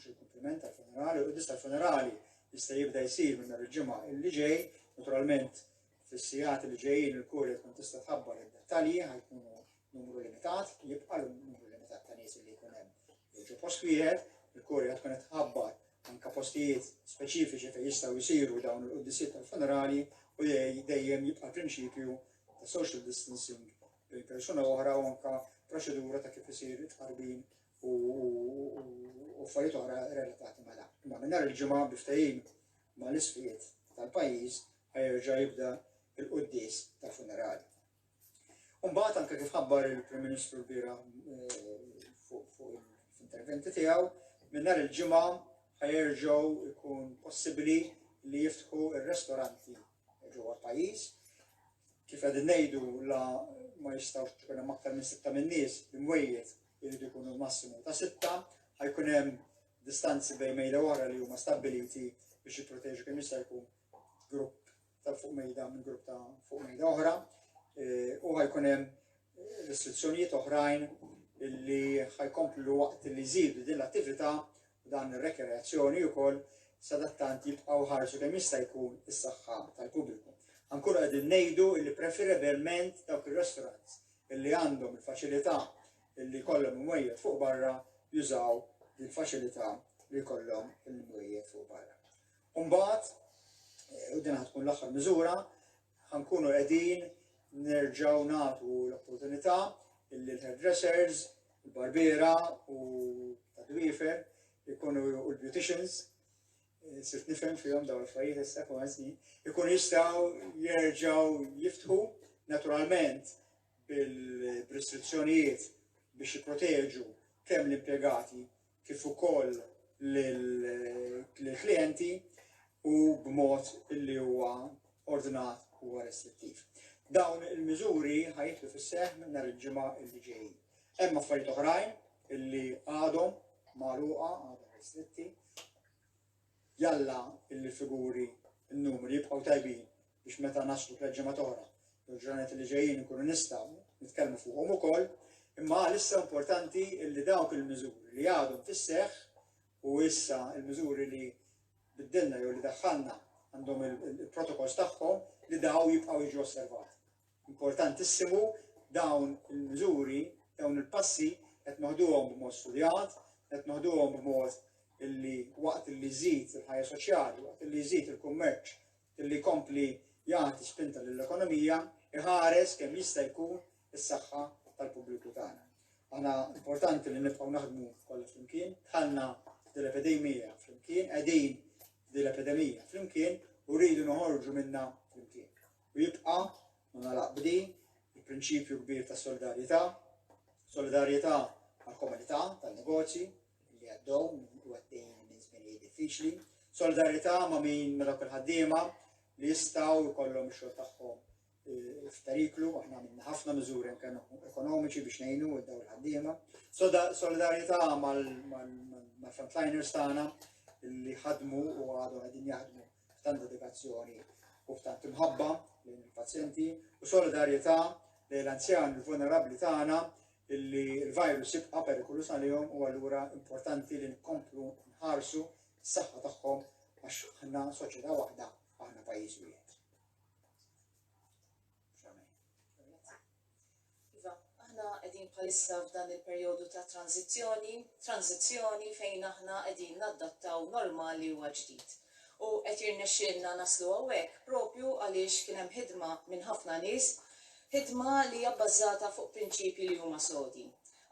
[SPEAKER 1] il-kumpliment tal-funerali, il-quddies tal-funerali jista' jibda jsir minn nhar il-ġimgħa illi ġej, naturalment fis-sigħat li ġejjin il-kurja tkun tista' tħabbar id-dettalji ħajkunu numru limitat, jibqa' numru limitat ta' nies li jkun hemm. Jiġu post wieħed, il-kurja tkun qed tħabbar anka postijiet speċifiċi fejn jistgħu jsiru dawn il-quddiesiet tal-funerali u dejjem jibqa' prinċipju ta' social distancing bejn persuna u oħra u anka proċedura ta' kif isir it-tqarbin u affarijiet oħra relatati ma' dan. Imma minn nhar il-ġimgħa biftajim ma' l-isfijiet tal-pajjiż ħajerġa' jibda il-quddis tal-funerali. Umbagħad anke kif ħabbar il-Prim Ministru l-bira eh, fuq l-interventi tiegħu, minn nhar il-ġimgħa ħajerġgħu jkun possibbli li jiftħu ir-restoranti ġewwa l-pajjiż. Kif qegħdin ngħidu la ma jistgħux tkun hemm aktar minn sitta minn nies imwejjed irid ikunu massimu ta' sitta, ħajkun hemm distanzi bejn mejda oħra li huma stabbiliti biex jipproteġu kemm jista' jkun grupp ta' fuq mejda minn grupp ta' fuq mejda oħra e, u ħajkun hemm restrizzjonijiet oħrajn li ħajkomplu waqt li jżidu din l-attività Dan ir-rekreazzjoni ukoll sadattant jibqgħu jħarsu kemm jista' jkun is-saħħa tal-pubbliku. Ħa nkunu qegħdin ngħidu illi preferebilment dawk ir-restaurants illi għandhom il-faċilità illi jkollhom imwejjed fuq barra jużaw il-faċilità li jkollhom il-imwejjed fuq barra. Umbagħad, u din ħad tkun l-aħħar miżura, Ħankunu qegħdin nerġgħu nagħtu l-opportunità illi l-hairdressers, il-barbiera u tad-dwiefer ikunu u l-beauticians eh, sirt nifhem fihom dawn l-affarijiet issa kull snin, ikun jistgħu jerġgħu jiftħu naturalment bil-restrizzjonijiet biex jipproteġu kemm l-impjegati kif ukoll lill-klijenti u b'mod li huwa ordnat u restrittiv. Dawn il-miżuri ħa jidħlu fis-seħħ minn nhar il-Ġimgħa li ġej. Hemm affarijiet oħrajn illi għadhom magħluqa, għadhom restritti. Jalla illi figuri n-numri jibqgħu tajbin biex meta naslu tliet ġimgħat oħra jew ġranet li ġejjin ikunu nistgħu nitkellmu fuqhom ukoll, imma għalissa importanti li dawk il-miżuri li għadhom fis-seħħ u issa il-miżuri li biddilna jew li daħħalna għandhom il-protokolls tagħhom li daw jibqgħu jiġu osservati. Importantissimu dawn il-miżuri, dawn il-passi qed noħduhom b'mod studjat, qed noħduhom b'mod illi waqt li żid il-ħajja soċjali, waqt li żid il-kummerċ billi jkompli jagħti spinta lill-ekonomija, iħares kemm jista' jkun is-saħħa tal-pubbliku tagħna. Aħna importanti li nibqgħu naħdmu kollha flimkien, dħalna dil-epidemija flimkien, qegħdin dil-epidemija flimkien u rridu noħorġu minna flimkien. U jibqa' ma nalaq bdi il-prinċipju kbir ta' solidarjetà, solidarjetà għal komunità tan-negozji, li għaddhom u għaddejjin minn żminijiet diffiċli. Solidarità ma' min ma' dawk il-ħaddiema li jistgħu jkollhom ix-xogħol tagħhom eh, f'periklu, aħna minna ħafna miżuri anke ekonomiċi biex ngħinu daw il-ħaddiema. Solidarità mal-frontliners tagħna li ħadmu u għadu għedin jaħdmu f'tant dedikazzjoni u f'tant imħabba lejn il-pazjenti u solidarjetà lejn l-anzjan il-vulnerabbli tagħna li l-virus jibqa' perikoluż għalihom u allura importanti li nkomplu nħarsu s-saħħa tagħhom għax aħna soċjetà waħda, aħna pajjiż wieħed. Iva, aħna qegħdin bħalissa f'dan il-perjodu ta' tranzizzjoni, tranzizzjoni fejn aħna qegħdin naddattaw normali u ġdid u qed jirnexxielna naslu hawnhekk propju għaliex kien hemm ħidma minn ħafna nies Ħidma li hija bbażata fuq prinċipji li huma sodi.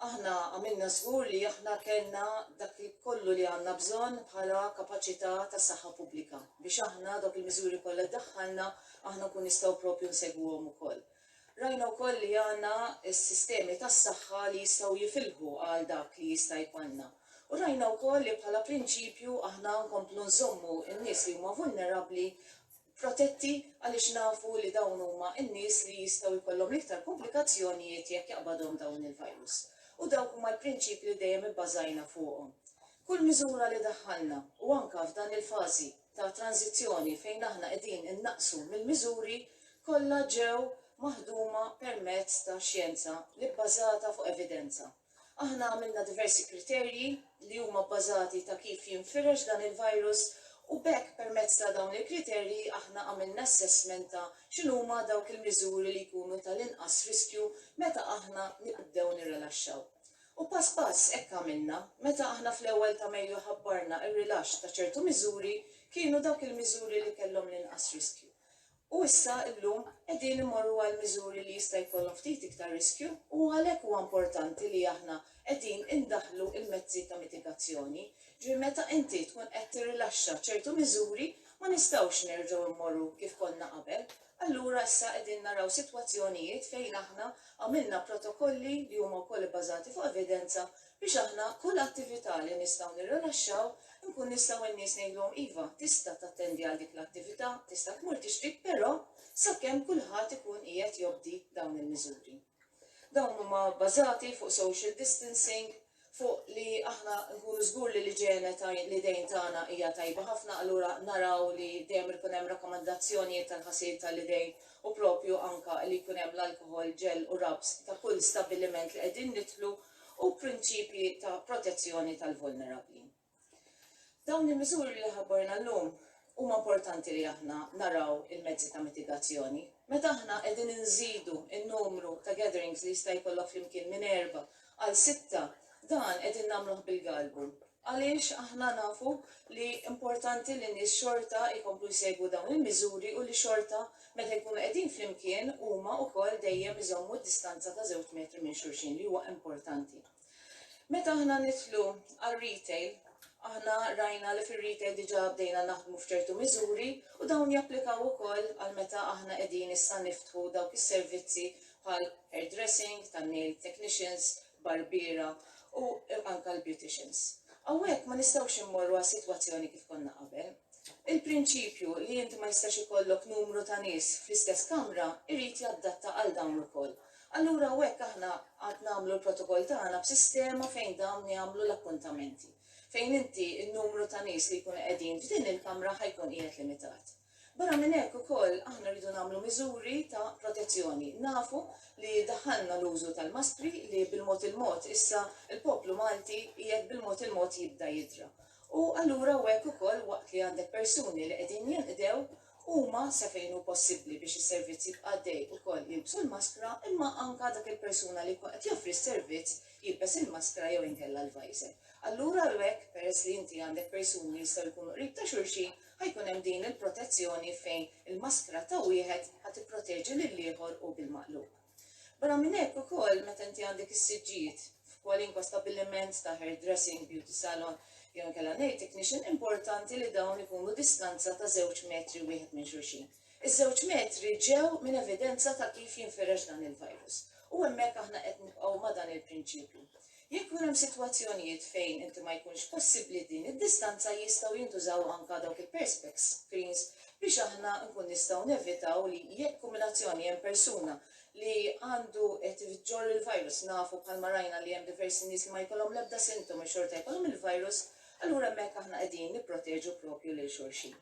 [SPEAKER 1] Aħna għamilna żgur li aħna kellna dak kollu li għandna bżonn bħala kapaċità ta' saħħa pubblika biex aħna dawk il-miżuri kollha li daħħalna aħna nkun nistgħu propju nsegwuhom ukoll. Rajna wkoll li għandna s-sistemi tas-saħħa li jistgħu jifilħu għal dak li jista' jkollna. U rajna wkoll li bħala prinċipju aħna nkomplu nżommu n-nies li huma vulnerabbli protetti għaliex nafu li dawn huma n-nies li jistgħu jkollhom l-iktar kumplikazzjonijiet jekk jaqbadhom dawn il-virus. U dawk huma l-prinċipji li dejjem ibbażajna fuqhom. Kull miżura li daħħalna, u anke f'dan il-fażi ta' tranżizzjoni fejn aħna qegħdin innaqqsu mill-miżuri, kollha ġew maħduma permezz ta' xjenza li bbażata fuq evidenza. Aħna għamilna diversi kriterji li huma bbażati ta' kif jinfirex dan il-virus u b'hekk permezz ta' dawn il-kriterji aħna għamilna assessment ta' x'inhuma dawk il-miżuri li jkunu tal-inqas riskju meta aħna nibdew nirrilaxxaw. U pass pass hekk għamilna. Meta aħna fl-ewwel ta' Mejju ħabbarna r-rilaxx ta' ċertu miżuri kienu dawk il-miżuri li kellhom l-inqas riskju. U issa, illum, qegħdin immorru għal miżuri li jista' jkollhom ftit iktar riskju u għalhekk huwa importanti li aħna qegħdin indaħħlu l-mezzi ta' mitigazzjoni. Ġifieri meta inti tkun qed tirrilaxxa ċertu miżuri ma nistgħux nerġgħu mmorru kif konna qabel. Allura issa qegħdin naraw sitwazzjonijiet fejn aħna għamilna protokolli li huma wkoll ibbażati fuq evidenza biex aħna kull attività li nistgħu nirrilaxxaw inkun nistgħu n-nies ngħidulhom iva, tista' tattendi għal dik l-attività, tista' tmur tixtri, però sakemm kulħadd ikun qiegħed jobdi dawn il-miżuri. Dawn huma bbażati fuq social distancing, fuq li aħna nkunu żgur li l-iġene ta' l-idejn tagħna hija tajba ħafna, allura naraw li dejjem ikun hemm rakkomandazzjonijiet tal-ħasil ta' l-idejn u propju anke li jkun hemm l-alkoħol, ġell u rabs ta' kull stabbiliment li qegħdin nidħlu, u prinċipji ta' protezzjoni tal-vulnerabbli. Dawn il-miżuri li ħabbarna llum huma importanti li aħna naraw il-mezzi ta' mitigazzjoni. Meta aħna qegħdin inżidu n-numru ta' gatherings li jista' jkollok flimkien minn erba' għal sitta, dan qegħdin nagħmluh bil-galbu. Għaliex aħna nafu li importanti li n-nies xorta jkomplu jsegwu dawn il-miżuri u li xorta meta jkunu qegħdin flimkien huma wkoll dejjem iżommu d-distanza ta' żewġ metri minn xulxin li huwa importanti. Meta aħna nidħlu għar-retail, aħna rajna li fir-retail diġà bdejna naħdmu f'ċertu miżuri u dawn japplikaw ukoll għal meta aħna qegħdin issa niftħu dawk is-servizzi bħal hairdressing, tan-nail technicians, barbiera u anke għall-beauticians. Hawnhekk ma nistgħux immorru għal sitwazzjoni kif konna qabel. Il-prinċipju li inti ma jistax ikollok numru ta' nies fl-istess kamra jrid jaddatta għal dawn ukoll. Allura hawnhekk aħna għad nagħmlu l-protokoll tagħna b'sistema fejn dawn jagħmlu l-appuntamenti, fejn inti n-numru ta' nies li jkunu qegħdin f'din il-kamra ħa jkun qiegħed limitat. Barra minn hekk ukoll aħna rridu nagħmlu miżuri ta' protezzjoni. Nafu li daħħalna l-użu tal-maskri li bil-mod il-mod issa l-poplu Malti qiegħed bil-mod il-mod jibda jidra. U allura hawnhekk ukoll waqt li għandek persuni li qegħdin jinqdew, huma sa fejn hu possibbli biex is-servizz jibqa' għaddej ukoll jilbsu l-maskra imma anke dak il-persuna li jkun qed joffri s-servizz jilbes il-maskra jew inkella l-visor. Allura hawnhekk peress li inti għandek persuni li jistgħu jkunu qrib ta' xulxin, Ħa jkun hemm din il-protezzjoni fejn il-maskra ta' wieħed ħa tipproteġi lill-ieħor u bil-maqlub. Barra minn hekk ukoll meta inti għandek is-siġġijiet f'kwalinkwa stabbiliment ta' hairdressing, beauty salon jew inkella nail technician importanti li dawn ikunu distanza ta' żewġ metri wieħed minn xulxin. Iż-żewġ metri ġew minn evidenza ta' kif jinfirex dan il-virus. U hemmhekk aħna qed nibqgħu ma' dan il-prinċipju. Jekk ikun hemm sitwazzjonijiet fejn inti ma jkunx possibbli din id-distanza jistgħu jintużaw anka dawk il-perspex screens biex aħna nkun nistgħu nevitaw li jekk kombinazzjoni hemm persuna li għandu qed iġorr il-virus nafu bħalma rajna li hemm diversi nies li ma jkollhom l-ebda sintomi xorta jkollhom il-virus allura hemmhekk aħna qegħdin nipproteġu propju lil xulxin.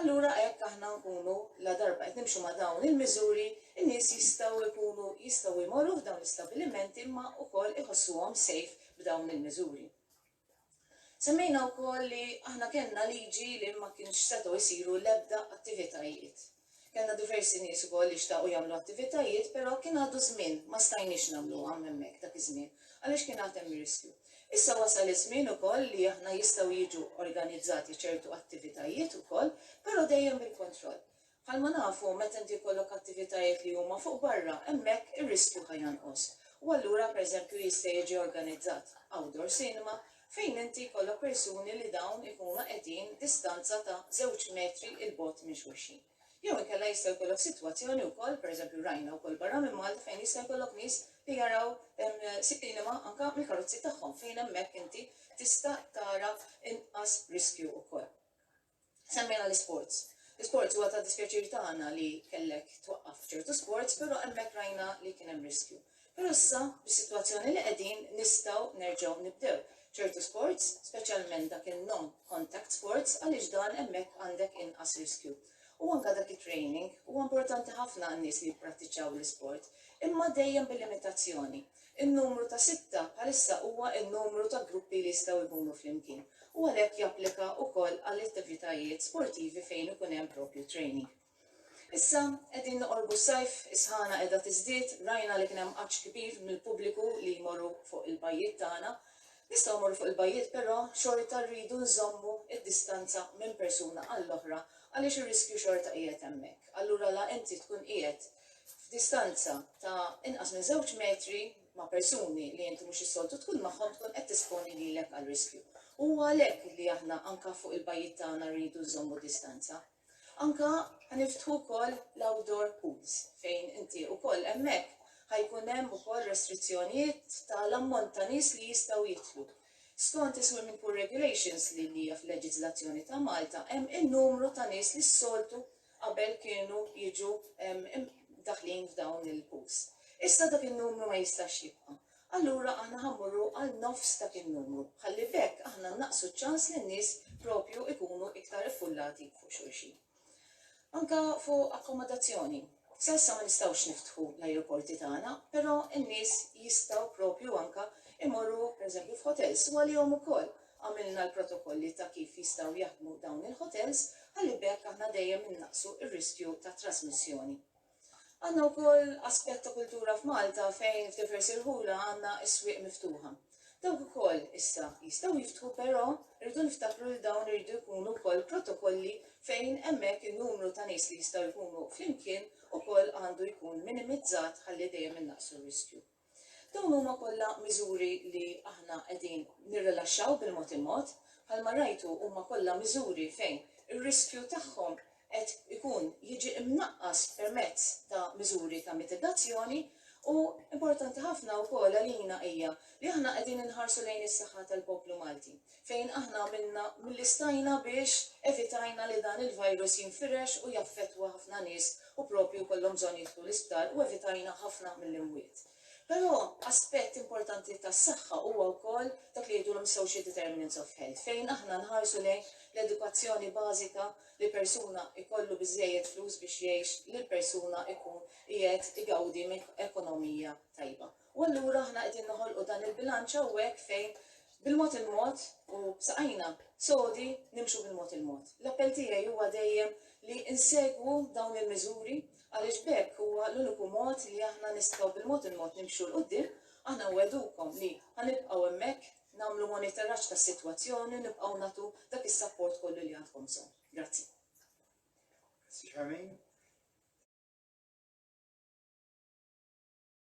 [SPEAKER 1] Allura hekk aħna nkunu ladarba qed nimxu ma' dawn il-miżuri, in-nies jistgħu jkunu jistgħu jmorru f'dawn l-istabbilimenti imma wkoll iħossuhom safe b'dawn il-miżuri. Semmejna wkoll li aħna kellna liġi li ma kienx setgħu jsiru l-ebda attivitajiet Kellna diversi nies ukoll li xtaqu jagħmlu attivitajiet, però kien għadu żmien, ma stajniex nagħmluhom hemmhekk dak iż-żmien, għaliex kien għad hemm riskju. Issa wasal iż-żmien ukoll li aħna jistgħu jiġu organizzati ċertu attivitajiet ukoll, però dejjem bil-kontroll. Bħalma nafu, meta inti jkollok attivitajiet li huma fuq barra, hemmhekk ir-riskju ħa jonqos. U allura, pereżempju, jista' jiġi organizzat outdoor cinema, fejn inti jkollok persuni li dawn ikunu qegħdin distanza ta' żewġ metri 'l bogħod minn xulxin. Jew inkella jista' jkollok sitwazzjoni wkoll, pereżempju rajna wkoll barra minn Malta fejn jista' jkollok nies li jaraw siqilima anke mill-karozzi tagħhom fejn hemmhekk inti tista' tara inqas riskju wkoll. Semmejna l-isports. L-isports huwa ta' dispjaċir tagħna li kellek twaqqaf ċertu sports però hemmhekk rajna li kien hemm riskju. Però issa bis-sitwazzjoni li qegħdin nistgħu nerġgħu nibdew ċertu sports, speċjalment dak in-non contact sports għaliex dan hemmhekk għandek inqas riskju. U anke dak it-training huwa importanti ħafna għan-nies li jipprattiċċaw l-isport imma dejjem bil-limitazzjoni. In-numru ta' sitta bħalissa huwa n-numru ta' gruppi li jistgħu jkunu flimkien u għalhekk japplika wkoll għall-attivitajiet sportivi fejn ikun hemm proprju training. Issa qegħdin noqorbu s-sajf, is-sħana qiegħda tiżdied, rajna li kien hemm għatx kbir mill-pubbliku li jmorru fuq il-bajjiet tagħna. Nistgħu mmorru fuq il-bajjiet però xorta rridu nżommu d-distanza minn persuna għall-oħra għaliex ir-riskju xorta qiegħed hemmhekk. Allura la inti tkun qiegħed f'distanza ta' inqas minn żewġ metri ma' persuni li inti mhux is-soltu tkun magħhom tkun qed tesponi lilek għal riskju. Huwa għalhekk li aħna anke fuq il-bajjiet tagħna rridu nżommu distanza. Anke ħaniftħu wkoll l-outdoor pools fejn inti wkoll hemmhekk ħajkun hemm ukoll restrizzjonijiet tal-ammont ta' nies li jistgħu jidħlu. Skont is-swimming pool regulations li hija fil-leġiżlazzjoni ta' Malta hemm in-numru ta' nies li s-soltu qabel kienu jiġu mdaħħlin f'dawn il-pools. Issa dak in-numru ma jistax jibqa'. Allura aħna ħa mmorru għal nofs dak in-numru, ħalli b'hekk aħna nnaqsu ċ-ċans li n-nies propju jkunu iktar iffullati fuq xulxin. Anke fuq akkomodazzjoni, sa issa ma nistgħux niftħu l-ajruporti tagħna, però n-nies jistgħu propju anke imorru pereżempju f'hotels u għalihom ukoll Għamilna l-protokolli ta' kif jistgħu jaħdmu dawn il-ħotels ħalli b'hekk aħna dejjem innaqqsu r-riskju ta' trasmissjoni. Għandna wkoll aspett ta' kultura f'Malta fejn f'diversi rħula għandna s-swieq miftuħa. Dawk ukoll issa jistgħu jiftħu però rridu niftakru li dawn iridu jkunu wkoll protokolli fejn hemmhekk in-numru ta' nies li jistgħu jkunu flimkien ukoll għandu jkun minimizzat ħalli dejjem innaqqsu r-riskju. Dawn huma kollha miżuri li aħna qegħdin nirrilaxxaw bil-mod il-mod. Bħalma rajtu huma kollha miżuri fejn ir-riskju tagħhom qed ikun jiġi mnaqqas permezz ta' miżuri ta' mitigazzjoni u importanti ħafna wkoll għalina hija li aħna qegħdin inħarsu lejn is-saħħa tal-poplu Malti. fejn aħna għamilna milli stajna biex evitajna li dan il-virus jinfirex u jaffettwa ħafna nies u proprju jkollhom bżonn jidħlu l-isptar u evitajna ħafna mill-imwiet. Però aspett importanti tas-saħħa huwa wkoll dak li jgħidulhom social determinants of health fejn aħna nħarsu lejn l-edukazzjoni bażika li persuna jkollu biżżejjed flus biex jgħix li l-persuna jkun qiegħed igawdi minn ekonomija tajba. U allura aħna qegħdin noħolqu dan il-bilanċ hawnhekk fejn bil-mod il-mod u b'saqajna sodi nimxu bil-mod il-mod. L-appell tiegħi huwa dejjem li nsegwu dawn il-miżuri għaliex b'hekk huwa l-uniku mod li aħna nistgħu bil-mod il-mod nimxu 'l quddiem. Aħna nwegħdukom li ħa nibqgħu hemmhekk nagħmlu monitoraġġ tas-sitwazzjoni u nibqgħu nagħtu dak is-sapport kollu li għandkom bżonn. Grazzi. Grazzi Charmaine.